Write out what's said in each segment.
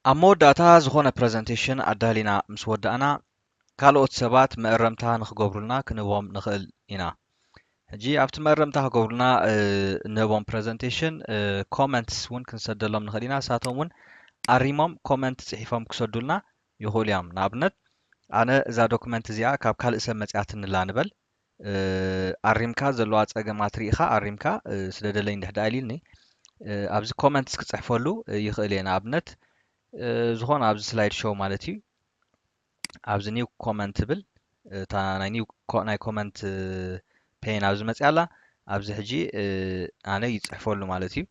ኣብ መወዳእታ ዝኾነ ፕረዘንቴሽን ኣዳሊና ምስ ወዳእና ካልኦት ሰባት መእረምታ ንክገብሩልና ክንህቦም ንኽእል ኢና ሕጂ ኣብቲ መእረምታ ክገብሩልና እንህቦም ፕረዘንቴሽን ኮመንትስ እውን ክንሰደሎም ንኽእል ኢና ንሳቶም እውን ኣሪሞም ኮመንት ፅሒፎም ክሰዱልና ይኽእሉ እዮም። ንኣብነት ኣነ እዛ ዶክመንት እዚኣ ካብ ካልእ ሰብ መጺኣትኒ'ላ ንበል፣ ኣሪምካ ዘለዋ ጸገማት ርኢኻ ኣሪምካ ስደደለይ እንድሕድኣ ኢሉኒ፣ ኣብዚ ኮመንትስ ክጽሕፈሉ ይኽእል እየ። ንኣብነት ዝኾነ ኣብዚ ስላይድ ሾው ማለት እዩ፣ ኣብዚ ኒው ኮመንት ትብል እታ ናይ ኒው ናይ ኮመንት ፔን ኣብዚ መጺኣ ኣላ፣ ኣብዚ ሕጂ ኣነ ይጽሕፈሉ ማለት እዩ።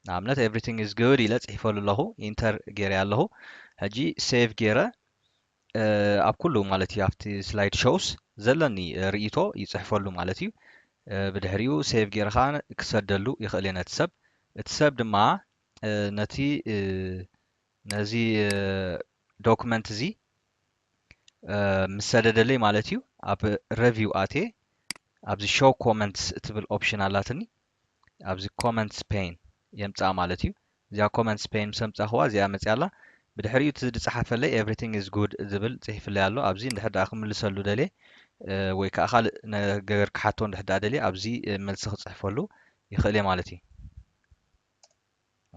ንኣብነት ኤቭሪቲንግ ኢዝ ጉድ ኢለ ጽሒፈሉ ኣለኹ ኢንተር ገይረ ኣለኹ ሕጂ ሴቭ ገይረ ኣብ ኩሉ ማለት እዩ ኣብቲ ስላይድ ሾውስ ዘለኒ ርእይቶ ይጽሕፈሉ ማለት እዩ ብድሕሪኡ ሴቭ ገይረ ከዓ ክሰደሉ ይኽእል እየ ነቲ ሰብ እቲ ሰብ ድማ ነቲ ነዚ ዶክመንት እዚ ምስ ሰደደለይ ማለት እዩ ኣብ ረቪው ኣቴ ኣብዚ ሾው ኮመንትስ እትብል ኦፕሽን ኣላትኒ ኣብዚ ኮመንትስ ፔን የምፅኣ ማለት እዩ እዚኣ ኮመንትስ ፔን ምስ ኣምፃእኽዋ እዚኣ መፅያ ኣላ ብድሕሪኡ እቲ ዝፀሓፈለይ ኤቭሪቲንግ ኢዝ ጉድ ዝብል ፅሒፍለይ ኣሎ ኣብዚ እንድሕር ደኣ ክምልሰሉ ደልየ ወይ ከዓ ካልእ ነገር ክሓቶ እንድሕር ደኣ ደልየ ኣብዚ መልሲ ክፅሕፈሉ ይኽእል እየ ማለት እዩ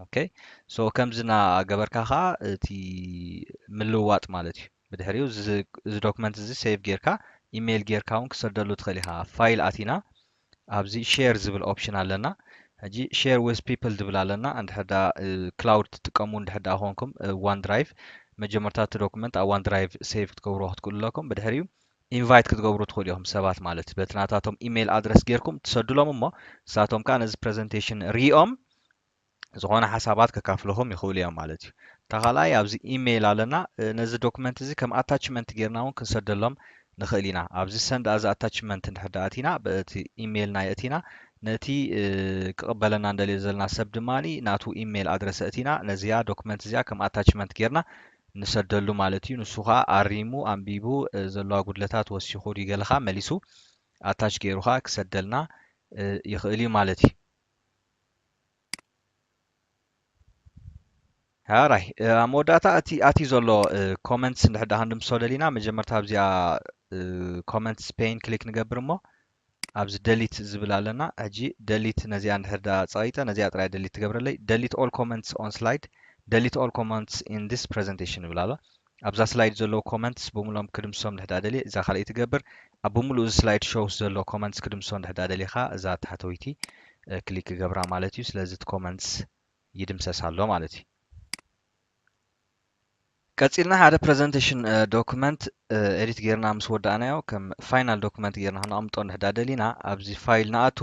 ኦከይ ሶ ከምዚ እናገበርካ ከኣ እቲ ምልውዋጥ ማለት እዩ ብድሕሪኡ እዚ ዶክመንት እዚ ሴቭ ጌርካ ኢሜይል ጌርካ እውን ክሰደሉ ትኽእል ኢኻ ፋይል ኣቲና ኣብዚ ሼር ዝብል ኦፕሽን ኣለና ሕጂ ሼር ዊዝ ፒፕል ዝብል ኣለና እንድሕር ዳ ክላውድ ትጥቀሙ እንድሕር ዳ ኮንኩም ዋን ድራይቭ መጀመርታ እቲ ዶክመንት ኣብ ዋን ድራይቭ ሴቭ ክትገብርዎ ክትክእሉ ኣለኩም ብድሕሪኡ ኢንቫይት ክትገብሩ ትኽእሉ ኢኹም ሰባት ማለት በቲ ናታቶም ኢሜይል ኣድረስ ጌርኩም ትሰዱሎም እሞ ንሳቶም ከኣ ነዚ ፕረዘንቴሽን ሪኦም ዝኾነ ሓሳባት ከካፍልኹም ይኽእሉ እዮም ማለት እዩ እታ ካልኣይ ኣብዚ ኢሜይል ኣለና ነዚ ዶክመንት እዚ ከም ኣታችመንት ጌርና እውን ክንሰደሎም ንኽእል ኢና ኣብዚ ሰንድ ኣዚ ኣታችመንት እንድሕር ደኣ እቲና በቲ ኢሜይልና የእቲና ነቲ ክቕበለና እንደልዮ ዘለና ሰብ ድማ ናቱ ኢሜይል ኣድረሰ እቲና ነዚኣ ዶክመንት እዚኣ ከም ኣታችመንት ጌርና ንሰደሉ ማለት እዩ ንሱ ከኣ ኣሪሙ ኣንቢቡ ዘለዋ ጉድለታት ወሲኹ ድዩ ገለኻ መሊሱ ኣታች ጌሩ ከኣ ክሰደልና ይኽእል እዩ ማለት እዩ። ሃራይ ኣብ መወዳእታ እቲ ኣቲ ዘሎ ኮመንትስ እንድሕዳ ክንድምሶ ደሊና መጀመርታ ኣብዚኣ ኮመንትስ ፔን ክሊክ ንገብር እሞ ኣብዚ ደሊት ዝብል ኣለና ሕጂ ደሊት ነዚኣ እንድሕር ድኣ ጸቂጠ ነዚኣ ጥራይ እያ ደሊት ትገብረለይ ደሊት ኦል ኮመንትስ ኦን ስላይድ ደሊት ኦል ኮመንትስ ኢን ዚስ ፕረዘንቴሽን ይብል ኣሎ ኣብዛ ስላይድ ዘለዉ ኮመንትስ ብምሉኦም ክድምስሶም እንድሕር ድኣ ደልየ እዛ ካልኣይቲ ገብር ኣብ ብምሉኡ እዚ ስላይድ ሾውስ ዘሎ ኮመንትስ ክድምስሶ እንድሕር ድኣ ደሊኻ እዛ ታሕተወይቲ ክሊክ ክገብራ ማለት እዩ ስለዚ እቲ ኮመንትስ ይድምሰስ ኣሎ ማለት እዩ ቀጺልና ሓደ ፕረዘንቴሽን ዶክመንት ኤዲት ጌርና ምስ ወዳእናዮ ከም ፋይናል ዶክመንት ጌርና ክነቕምጦ እንድሕዳ ደሊና ኣብዚ ፋይል ንኣቱ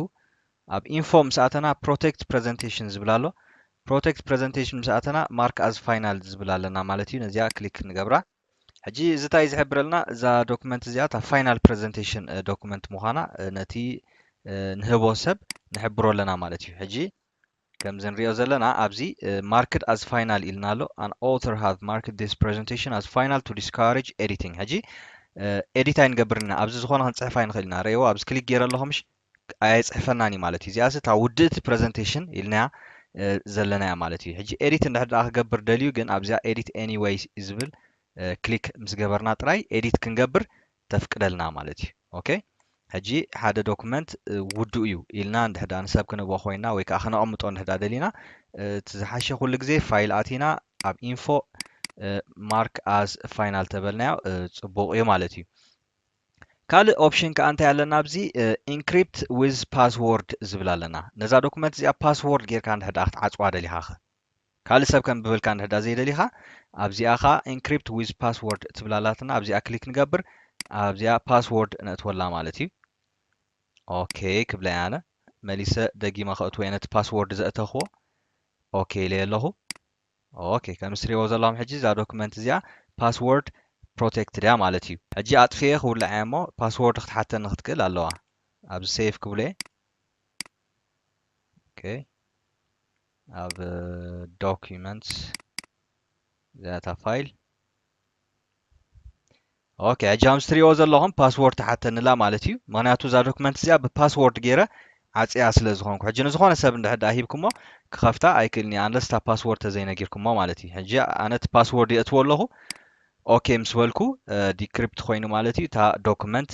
ኣብ ኢንፎ ምስ ኣተና ፕሮቴክት ፕረዘንቴሽን ዝብል ኣሎ ፕሮቴክት ፕረዘንቴሽን ምስ ኣተና ማርክ ኣዝ ፋይናል ዝብል ኣለና ማለት እዩ ነዚኣ ክሊክ ንገብራ ሕጂ እዚ እንታይ ዝሕብረልና እዛ ዶክመንት እዚኣ እታ ፋይናል ፕረዘንቴሽን ዶክመንት ምዃና ነቲ ንህቦ ሰብ ንሕብሮ ኣለና ማለት እዩ ሕጂ ከምዚ ንሪኦ ዘለና ኣብዚ ማርክድ ኣዝ ፋይናል ኢልና ኣሎ ኣን ኦተር ሃቭ ማርክድ ዲስ ፕሬዘንቴሽን ኣዝ ፋይናል ቱ ዲስካሬጅ ኤዲቲንግ ሕጂ ኤዲት ኣይንገብርን ኢና ኣብዚ ዝኾነ ክንፅሕፍ ኣይንኽእል ኢና ረእዎ ኣብዚ ክሊክ ገይረ ኣለኹ ምሽ ኣየፅሕፈናን እዩ ማለት እዩ እዚኣስ እታ ውድእቲ ፕሬዘንቴሽን ኢልናያ ዘለና እያ ማለት እዩ ሕጂ ኤዲት እንድሕር ድኣ ክገብር ደልዩ ግን ኣብዚኣ ኤዲት ኤኒዌይስ ዝብል ክሊክ ምስ ገበርና ጥራይ ኤዲት ክንገብር ተፍቅደልና ማለት እዩ ኦከይ ሕጂ ሓደ ዶኩመንት ውዱእ እዩ ኢልና እንድሕር ደኣ ንሰብ ክንህቦ ኮይና ወይ ከዓ ክነቐምጦ እንድሕር ደኣ ደሊና እቲ ዝሓሸ ኩሉ ግዜ ፋይል ኣቲና ኣብ ኢንፎ ማርክ ኣዝ ፋይናል ተበልናዮ ጽቡቕ እዩ ማለት እዩ ካልእ ኦፕሽን ከዓ እንታይ ኣለና ኣብዚ ኢንክሪፕት ዊዝ ፓስዎርድ ዝብል ኣለና ነዛ ዶኩመንት እዚኣ ፓስዎርድ ጌርካ እንድሕር ደኣ ክትዓጽዋ ደሊኻ ኸ ካልእ ሰብ ከንብበልካ እንድሕዳ ዘይደሊኻ ኣብዚኣ ከኣ ኢንክሪፕት ዊዝ ፓስዎርድ ትብል ኣላትና ኣብዚኣ ክሊክ ንገብር ኣብዚኣ ፓስዎርድ ነእትወላ ማለት እዩ ኦኬ ክብለይ ኣነ መሊሰ ደጊመ ከእትዎ እየ ነቲ ፓስዎርድ ዘእተኽዎ ኦኬ ኢለየ ኣለኹ ኦኬ ከም እትሪእዎ ዘለኹም ሕጂ እዛ ዶክመንት እዚኣ ፓስዎርድ ፕሮቴክትድ እያ ማለት እዩ ሕጂ ኣጥፍየ ክውላዕ እየ እሞ ፓስዎርድ ክትሓተኒ ክትክእል ኣለዋ ኣብዚ ሴቭ ክብሎ እየ ኦኬ ኣብ documents እዚኣ እታ ፋይል ኦኬ ሕጂ ከምዚ ትሪእዎ ዘለኹም ፓስዎርድ ተሓተንላ ማለት እዩ ምክንያቱ እዛ ዶክመንት እዚኣ ብፓስዎርድ ገይረ ዓፅያ ስለ ዝኾንኩ ሕጂ ንዝኾነ ሰብ እንድሕር ድኣ ሂብኩሞ ክኸፍታ ኣይክእልን እዩ ኣንለስ እታ ፓስዎርድ ተዘይነጊርኩሞ ማለት እዩ ሕጂ ኣነ እቲ ፓስዎርድ የእትዎ ኣለኹ ኦኬ ምስ በልኩ ዲክሪፕት ኮይኑ ማለት እዩ እታ ዶክመንት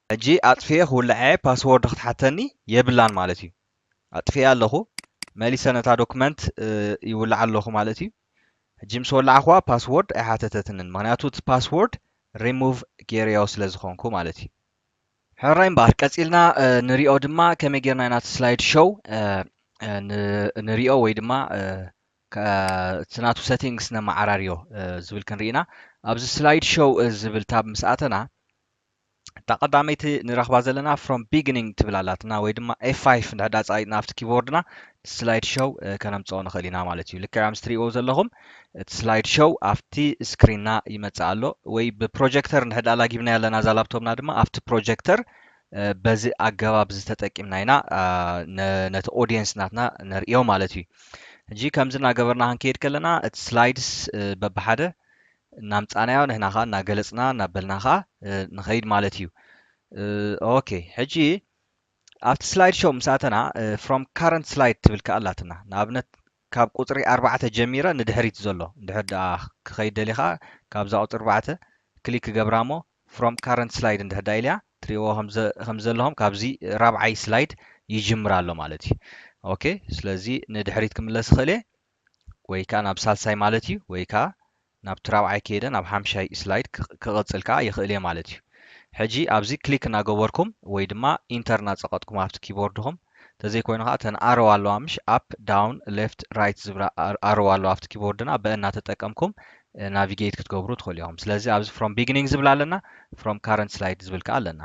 ሕጂ ኣጥፊኤ ክውልዕ'የ ፓስዎርድ ክትሓተኒ የብላን ማለት እዩ ኣጥፊኤ ኣለኹ መሊሰ ነታ ዶክመንት ይውልዓ ኣለኹ ማለት እዩ ሕጂ ምስ ወላዕኽዋ ፓስዎርድ ኣይሓተተትንን ምኽንያቱ እቲ ፓስዎርድ ሪሙቭ ጌረዮ ስለ ዝኾንኩ ማለት እዩ ሕራይ እምበኣር ቀጺልና ንሪኦ ድማ ከመይ ጌርና ኢና እቲ ስላይድ ሾው ንሪኦ ወይ ድማ እቲ ናቱ ሰቲንግስ ነመዓራርዮ ዝብል ክንሪኢና ኣብዚ ስላይድ ሾው ዝብል ታብ ምስ ኣተና እታ ቀዳመይቲ ንረኽባ ዘለና ፍሮም ቢግኒንግ ትብል ኣላትና ወይ ድማ ኤፋይፍ እንድሕር ዳኣ ጻቂጥና ኣብቲ ኪቦርድና ስላይድ ሾው ከነምጽኦ ንኽእል ኢና ማለት እዩ ልክዕ ኣምስ ትሪእዎ ዘለኹም እቲ ስላይድ ሾው ኣብቲ ስክሪንና ይመጽእ ኣሎ ወይ ብፕሮጀክተር እንድሕር ዳኣ ላጊብናዮ ኣለና እዛ ላፕቶፕና ድማ ኣብቲ ፕሮጀክተር በዚ ኣገባብ እዚ ተጠቂምና ኢና ነቲ ኦዲየንስ ናትና ነርእዮ ማለት እዩ ሕጂ ከምዚ እናገበርና ክንከይድ ከለና እቲ ስላይድስ በብሓደ እናምጻናዮ ንሕና ከኣ እናገለጽና እናበልና ከኣ ንኸይድ ማለት እዩ። ኦኬ ሕጂ ኣብቲ ስላይድ ሾው ምስ ኣተና ፍሮም ካረንት ስላይድ ትብል ከኣ ኣላትና ንኣብነት ካብ ቁጽሪ ኣርባዕተ ጀሚረ ንድሕሪት ዘሎ እንድሕር ደኣ ክኸይድ ደሊኻ ካብዛ ቁጽሪ ኣርባዕተ ክሊክ ክገብራ እሞ ፍሮም ካረንት ስላይድ እንድሕር ደኣ ኢለያ ትርእይዎ ከም ዘለኹም ካብዚ ራብዓይ ስላይድ ይጅምር ኣሎ ማለት እዩ። ኦኬ ስለዚ ንድሕሪት ክምለስ ይኽእል እየ። ወይ ከኣ ናብ ሳልሳይ ማለት እዩ ወይ ከኣ ናብቲ ራብዓይ ከይደ ናብ ሓምሻይ ስላይድ ክቕጽል ከኣ ይኽእል እየ ማለት እዩ። ሕጂ ኣብዚ ክሊክ እናገበርኩም ወይ ድማ ኢንተር እናጸቐጥኩም ኣብቲ ኪቦርድኹም ተዘይኮይኑ ከኣ እተን ኣሮው ኣለዋ ምሽ ኣፕ ዳውን ሌፍት ራይት ዝብላ ኣሮው ኣለዋ ኣብቲ ኪቦርድና በ እናተጠቀምኩም ናቪጌት ክትገብሩ ትኽእሉ ኢኹም። ስለዚ ኣብዚ ፍሮም ቢግኒንግ ዝብል ኣለና ፍሮም ካረንት ስላይድ ዝብል ከኣ ኣለና።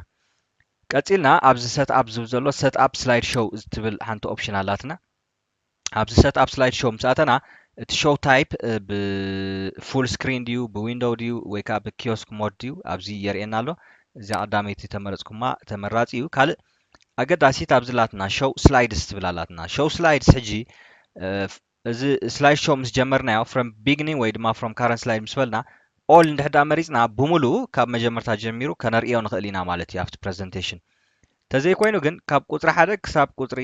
ቀጺልና ኣብዚ ሰት ኣፕ ዝብል ዘሎ ሰት ኣፕ ስላይድ ሾው እትብል ሓንቲ ኦፕሽን ኣላትና። ኣብዚ ሰት ኣፕ ስላይድ ሾው ምስ ኣተና እቲ ሾው ታይፕ ብፉል ስክሪን ድዩ ብዊንዶው ድዩ ወይ ከዓ ብኪዮስክ ሞድ ድዩ ኣብዚ የርእየና ኣሎ እዚኣ ቀዳመይቲ ተመረፅኩማ ተመራፂ እዩ ካልእ ኣገዳሲት ኣብዚ ላትና ሾው ስላይድስ ትብል ኣላትና ሾው ስላይድስ ሕጂ እዚ ስላይድ ሾው ምስ ጀመርናዮ ፍሮም ቢግኒንግ ወይ ድማ ፍሮም ካረንት ስላይድ ምስ በልና ኦል እንድሕዳ መሪፅና ብምሉኡ ካብ መጀመርታ ጀሚሩ ከነርእዮ ንኽእል ኢና ማለት እዩ ኣብቲ ፕሬዘንቴሽን ተዘይኮይኑ ግን ካብ ቁጽሪ ሓደ ክሳብ ቁጽሪ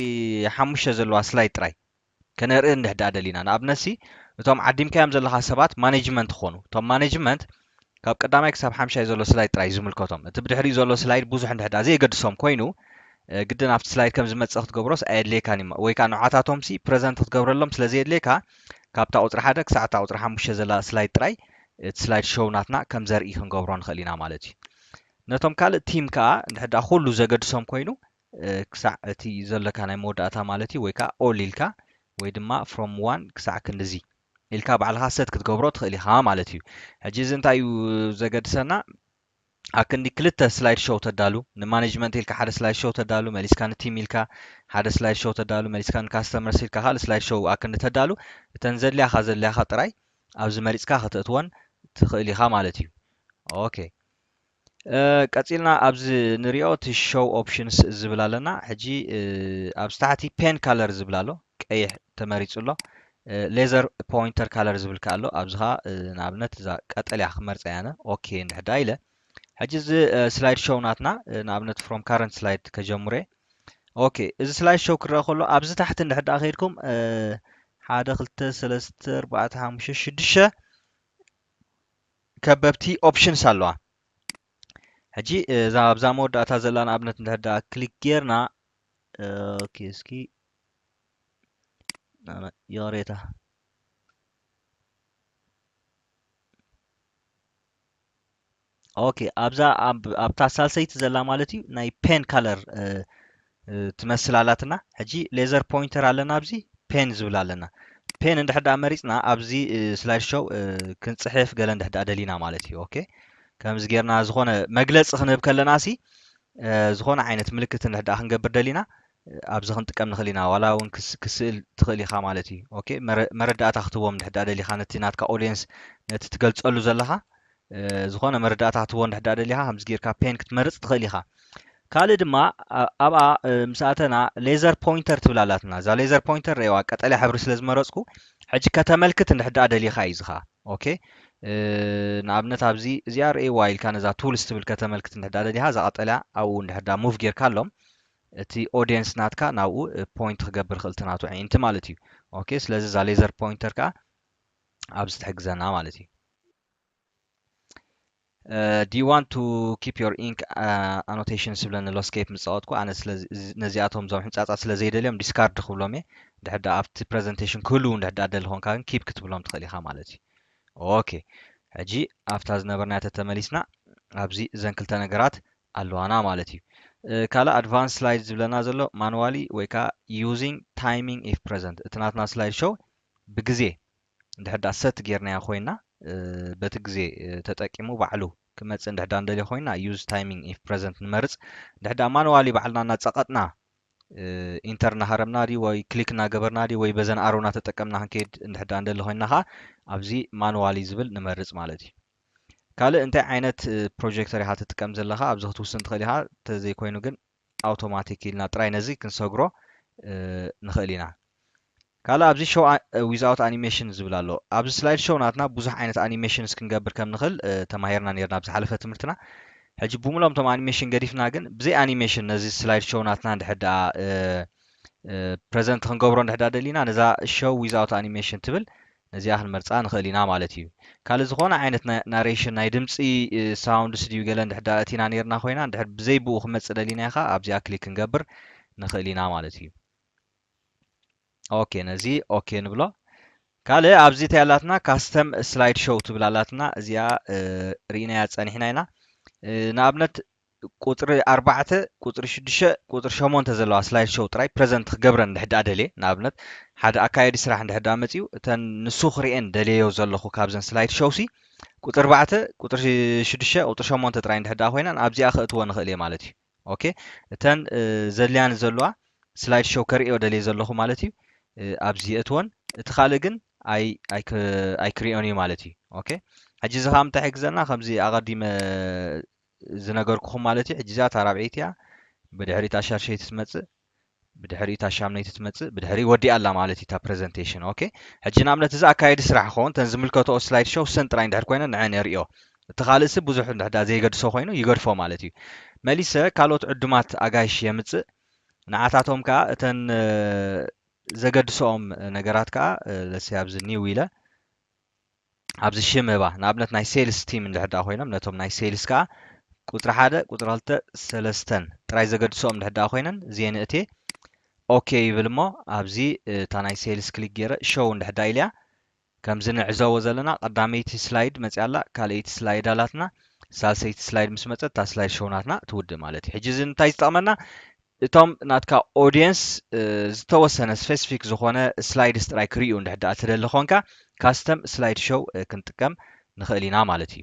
ሓሙሽተ ዘለዋ ስላይድ ጥራይ ከነርኢ እንድሕ ድኣ ደሊና ንኣብነት ሲ እቶም ዓዲምካዮም ዘለኻ ሰባት ማነጅመንት ክኾኑ እቶም ማነጅመንት ካብ ቀዳማይ ክሳብ ሓምሻይ ዘሎ ስላይድ ጥራይ ዝምልከቶም እቲ ብድሕሪኡ ዘሎ ስላይድ ብዙሕ እንድሕ ድኣ ዘየገድሶም ኮይኑ ግድን ኣብቲ ስላይድ ከም ዝመጽእ ክትገብሮስ ኣየድልየካን እዩ ወይ ከኣ ንዓታቶም ሲ ፕረዘንት ክትገብረሎም ስለ ዘየድልየካ ካብታ ቁጽሪ ሓደ ክሳዕ እታ ቁጽሪ ሓሙሽተ ዘላ ስላይድ ጥራይ እቲ ስላይድ ሾው ናትና ከም ዘርኢ ክንገብሮ ንኽእል ኢና ማለት እዩ ነቶም ካልእ ቲም ከኣ እንድሕር ደኣ ኩሉ ዘገድሶም ኮይኑ ክሳዕ እቲ ዘለካ ናይ መወዳእታ ማለት እዩ ወይ ከኣ ኦል ኢልካ ወይ ድማ ፍሮም ዋን ክሳዕ ክንድዚ ኢልካ ባዕልኻ ሰት ክትገብሮ ትኽእል ኢኻ ማለት እዩ። ሕጂ እዚ እንታይ እዩ ዘገድሰና ኣብ ክንዲ ክልተ ስላይድ ሾው ተዳሉ ንማኔጅመንት ኢልካ ሓደ ስላይድ ሾው ተዳሉ መሊስካ ንቲም ኢልካ ሓደ ስላይድ ሾው ተዳሉ መሊስካ ንካስተመርስ ኢልካ ካልእ ስላይድ ሾው ኣብ ክንዲ ተዳሉ እተን ዘድልያኻ ዘድልያኻ ጥራይ ኣብዚ መሪጽካ ከተእትወን ትኽእል ኢኻ ማለት እዩ። ኦኬ ቀጺልና ኣብዚ ንሪኦ እቲ ሾው ኦፕሽንስ ዝብል ኣለና ሕጂ ኣብዚ ታሕቲ ፔን ካለር ዝብል ኣሎ ቀይሕ ተመሪጹ ኣሎ ሌዘር ፖይንተር ካለር ዝብል ከ ኣሎ ኣብዚ ከ ንኣብነት እዛ ቀጠልያ ክመርጻ ያነ ኦኬ እንድሕዳ ኢለ ሕጂ እዚ ስላይድ ሾው ናትና ንኣብነት ፍሮም ካረንት ስላይድ ከጀምረ ኦኬ እዚ ስላይድ ሾው ክረአ ከሎ ኣብዚ ታሕቲ እንድሕዳ ከይድኩም ሓደ ክልተ ሰለስተ ኣርባዕተ ሓሙሽተ ሽዱሽተ ከበብቲ ኦፕሽንስ ኣለዋ ሕጂ እዛ ኣብዛ መወዳእታ ዘላ ንኣብነት እንድሕር ደኣ ክሊክ ጌርና ኦኬ እስኪ ይቕሬታ ኦኬ ኣብዛ ኣብታ ሳልሰይቲ ዘላ ማለት እዩ ናይ ፔን ካለር ትመስል ኣላትና ሕጂ ሌዘር ፖይንተር ኣለና ኣብዚ ፔን ዝብል ኣለና ፔን እንድሕር ደኣ መሪጽና ኣብዚ ስላይድ ሾው ክንጽሕፍ ገለ እንድሕር ደኣ ደሊና ማለት እዩ ኦኬ ከምዚ ጌርና ዝኾነ መግለጺ ክንህብ ከለና ሲ ዝኾነ ዓይነት ምልክት እንድሕር ደኣ ክንገብር ደሊና ኣብዚ ክንጥቀም ንኽእል ኢና ዋላ እውን ክስእል ትኽእል ኢኻ ማለት እዩ ኦኬ መረዳእታ ክትህቦም እንድሕር ደኣ ደሊኻ ነቲ ናትካ ኦድየንስ ነቲ ትገልጸሉ ዘለኻ ዝኾነ መረዳእታ ክትህቦ እንድሕር ደኣ ደሊኻ ከምዚ ጌርካ ፔን ክትመርጽ ትኽእል ኢኻ። ካልእ ድማ ኣብኣ ምስ ኣተና ሌዘር ፖይንተር ትብል ኣላትና። እዛ ሌዘር ፖይንተር ረኣይዋ ቀጠልያ ሕብሪ ስለ ዝመረጽኩ ሕጂ ከተመልክት እንድሕር ደኣ ደሊኻ እዩ እዚ ከኣ ኦኬ ንኣብነት ኣብዚ እዚኣ ረኣይዋ ኢልካ ነዛ ቱልስ ትብል ከተመልክት እንድሕር ደኣ ደሊኻ እዛ ቀጠልያ ኣብኡ እንድሕር ደኣ ሙቭ ጌርካ ኣሎም እቲ ኦድየንስ ናትካ ናብኡ ፖይንት ክገብር ይኽእል እቲ ናቱ ኣዒንቲ ማለት እዩ ኦኬ ስለዚ እዛ ሌዘር ፖይንተር ከኣ ኣብዚ ትሕግዘና ማለት እዩ። ዲ ዩ ዋንት ቱ ኪፕ ዮር ኢንክ ኣኖቴሽንስ ዝብለኒ ኣሎ ስኬፕ ምስ ፃወትኩ ኣነ ነዚኣቶም እዞም ሕንፃፃት ስለ ዘይደልዮም ዲስካርድ ክብሎም እየ ድሕር ዳኣ ኣብቲ ፕረዘንቴሽን ክህልው እንድሕር ዳኣ ደሊ ኮንካ ግን ኪፕ ክትብሎም ትኽእል ኢኻ ማለት እዩ ኦኬ ሕጂ ኣብታ ዝነበርናዮ ተተመሊስና ኣብዚ እዘን ክልተ ነገራት ኣለዋና ማለት እዩ ካልእ ኣድቫንስ ስላይድ ዝብለና ዘሎ ማንዋሊ ወይ ከዓ ዩዚንግ ታይሚንግ ኢፍ ፕረዘንት እቲ ናትና ስላይድ ሾው ብግዜ እንድሕር ድኣ ሰት ጌርናዮ ኮይና በቲ ግዜ ተጠቂሙ ባዕሉ ክመጽእ እንድሕር ድኣ ንደልዮ ኮይና use timing if present ንመርጽ እንድሕር ድኣ ማኑዋሊ ባዕልና እናጸቐጥና ኢንተር እናሃረምና ድዩ ወይ ክሊክ እናገበርና ድዩ ወይ በዘን ኣሮ እናተጠቀምና ክንከይድ እንድሕር ድኣ ንደሊ ኮይና ከኣ ኣብዚ ማኑዋሊ ዝብል ንመርጽ ማለት እዩ ካልእ እንታይ ዓይነት ፕሮጀክተር ኢኻ ትጥቀም ዘለኻ ኣብዚ ክትውስን ትኽእል ኢኻ እንተዘይኮይኑ ግን ኣውቶማቲክ ኢልና ጥራይ ነዚ ክንሰግሮ ንኽእል ኢና። ካልእ ኣብዚ ሾው ዊዝኣውት ኣኒሜሽን ዝብል ኣሎ። ኣብዚ ስላይድ ሾው ናትና ብዙሕ ዓይነት ኣኒሜሽንስ ክንገብር ከም ንኽእል ተማሂርና ኔርና ኣብ ዝሓለፈ ትምህርትና። ሕጂ ብምልኦም እቶም ኣኒሜሽን ገዲፍና ግን ብዘይ ኣኒሜሽን ነዚ ስላይድ ሾው ናትና እንድሕር ደኣ ፕረዘንት ክንገብሮ እንድሕር ደኣ ደሊና ነዛ ሾው ዊዝኣውት ኣኒሜሽን ትብል ነዚኣ ክንመርጻ ንኽእል ኢና ማለት እዩ። ካልእ ዝኾነ ዓይነት ናይ ናሬሽን ናይ ድምጺ ሳውንድስ ድዩ ገለ እንድሕር ድኣ ኣእቲና ኔርና ኮይና እንድሕር ብዘይ ብኡ ክመጽእ ደሊና ከኣ ኣብዚኣ ክሊክ ክንገብር ንኽእል ኢና ማለት እዩ። ኦኬ ነዚ ኦኬ ንብሎ። ካልእ ኣብዚ እንታይ ኣላትና ካስተም ስላይድ ሾው ትብል ኣላትና እዚኣ ርኢናያ ጸኒሕና ኢና። ንኣብነት ቁጽሪ ኣርባዕተ፣ ቁጽሪ ሽዱሽተ፣ ቁጽሪ ሸሞንተ ዘለዋ ስላይድ ሾው ጥራይ ፕረዘንት ክገብረን እንድሕር ደኣ ደልየ፣ ንኣብነት ሓደ ኣካያዲ ስራሕ እንድሕር ደኣ መጺኡ፣ እተን ንሱ ክርእየን ደልየዮ ዘለኹ ካብዘን ስላይድ ሾውሲ፣ ቁጽሪ ኣርባዕተ፣ ቁጽሪ ሽዱሽተ፣ ቁጽሪ ሸሞንተ ጥራይ እንድሕር ደኣ ኮይነን ኣብዚኣ ከእትወን እኽእል እየ ማለት እዩ። ኦኬ እተን ዘድልያኒ ዘለዋ ስላይድ ሾው ከርእዮ ደልየ ዘለኹ ማለት እዩ ኣብዚ የእትወን፣ እቲ ካልእ ግን ኣይ ኣይክ ኣይክርእዮን እዩ ማለት እዩ። ኦኬ ሕጂ እዚ ከኣ ምንታይ ይሕግዘና ከምዚ ኣቐዲመ ዝነገርኩኹም ማለት እዩ ሕጂ እዚኣ እታ ራብዐይቲ እያ ብድሕሪ እታ ሻድሸይቲ ትመጽእ ብድሕሪ እታ ሻምነይቲ ትመጽእ ብድሕሪ ወዲኣ ኣላ ማለት እዩ እታ ፕረዘንቴሽን ኦኬ ሕጂ ንኣብነት እዚ ኣካየዲ ስራሕ ክኸውን ተን ዝምልከተኦ ስላይድ ሾው ሰን ጥራይ እንድሕር ኮይነ ንዐን የርእዮ እቲ ካልእሲ ብዙሕ እንድሕዳ ዘይገድሶ ኮይኑ ይገድፎ ማለት እዩ መሊሰ ካልኦት ዕዱማት ኣጋይሽ የምጽእ ንዓታቶም ከዓ እተን ዘገድሶኦም ነገራት ከዓ ለሲ ኣብዚ ኒው ኢለ ኣብዚ ሽመባ ንኣብነት ናይ ሴልስ ቲም እንድሕር ደኣ ኮይኖም ነቶም ናይ ሴልስ ከኣ ቁጽሪ ሓደ ቁጽሪ ክልተ ሰለስተን ጥራይ ዘገድሰኦም እንድሕር ደኣ ኮይነን እዚኤ ንእቴ ኦኬ ይብል እሞ ኣብዚ እታ ናይ ሴልስ ክሊክ ገይረ ሾው እንድሕር ደኣ ኢለያ ከምዚ ንዕዘቦ ዘለና ቀዳመይቲ ስላይድ መጽያ ኣላ ካልኣይቲ ስላይድ ኣላትና ሳልሰይቲ ስላይድ ምስ መጸት እታ ስላይድ ሾው ናትና ትውድእ ማለት እዩ ሕጂ እዚ እንታይ ዝጠቕመና እቶም ናትካ ኦድየንስ ዝተወሰነ ስፈሲፊክ ዝኾነ ስላይድስ ጥራይ ክርእዩ እንድሕር ደኣ ትደሊ ኾንካ ካስተም ስላይድ ሾው ክንጥቀም ንኽእል ኢና ማለት እዩ።